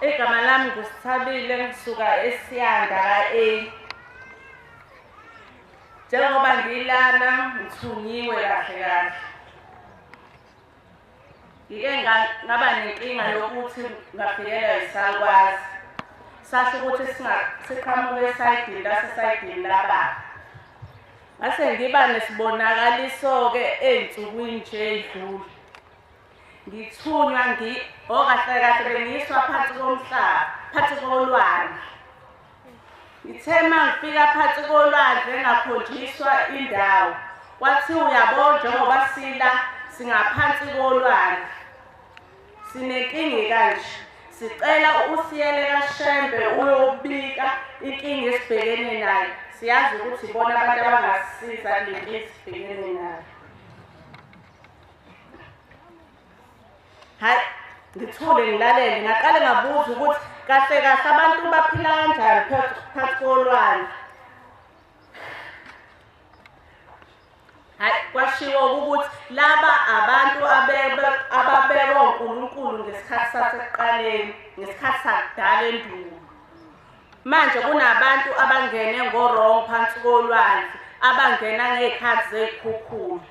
igama lami ngusithabile ngisuka esiyanda ka-a njengoba ngilana ngithungiwe kahle kahle ngike ngaba nenkinga yokuthi ngafikelwa yisakwazi sasho ukuthi siqhamuke esayidini lasesayidini lababa Ngase ngiba nesibonakaliso-ke ey'nsukwini nje ey'dlule. Ngithunywa ngi oh kahle kahle bengiyiswa phansi komhlaba, phansi kolwandle. Ngithe uma ngifika phansi kolwandle ngakhonjiswa indawo. Kwathiwa uyabo njengoba sila singaphansi kolwandle. Sinenkingi kanje. Sicela usiyele kaShembe uyobika inkingi esibhekene nayo. Siyazi ukuthi bona abantu abangasisiza kule nkingi esibhekene nayo. Hayi ngithule ngilalele ngaqale ngabuza ukuthi kahle kahle abantu baphila kanjani phakathi kolwandle Hayi kwashiwo ukuthi laba abantu abebe ababekwa uNkulunkulu ngesikhathi sasekuqaleni, ngesikhathi sakudala endulo. Manje kunabantu abangene ngorong phansi kolwandle, abangena ngezikhathi zezikhukhula.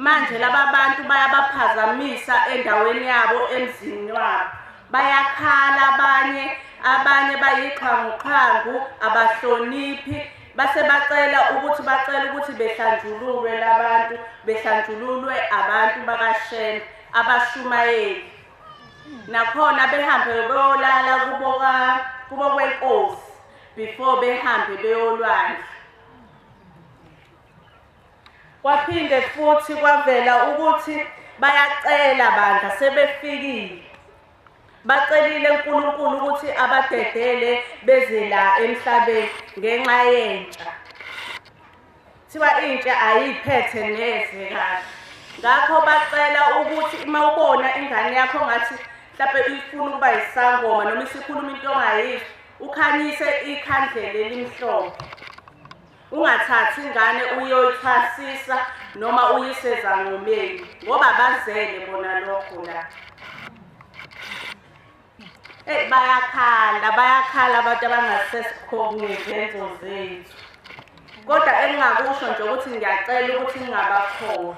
Manje laba bantu bayabaphazamisa endaweni yabo emzini wabo. Bayakhala abanye, abanye bayixhwanguxhwangu, abahloniphi base bacela ukuthi bacela ukuthi behlanjululwe labantu, behlanjululwe abantu bakaShembe abashumayeli. Nakhona behambe beyolala kubo ka kubo kwenkosi before behambe beyolwandla. Kwaphinde futhi kwavela ukuthi bayacela bandla sebefikile. Bacelile uNkulunkulu ukuthi abadedele beze la emhlabeni ngenxa yentsha. Thiwa intsha ayiphethe neze kahle. Ngakho bacela ukuthi uma ubona ingane yakho ngathi mhlawumbe uyifuna ukuba yisangoma noma isikhuluma into ongayizwa ukhanyise ikhandlela elimhlophe. Ungathathi ingane uyoyithasisa noma uyiseza ngomeni ngoba bazele bona lokho la. Eh bayakhala bayakhala abantu abangasesikhongi izenzo zethu. Kodwa engingakusho nje ukuthi ngiyacela ukuthi ngingabakhona.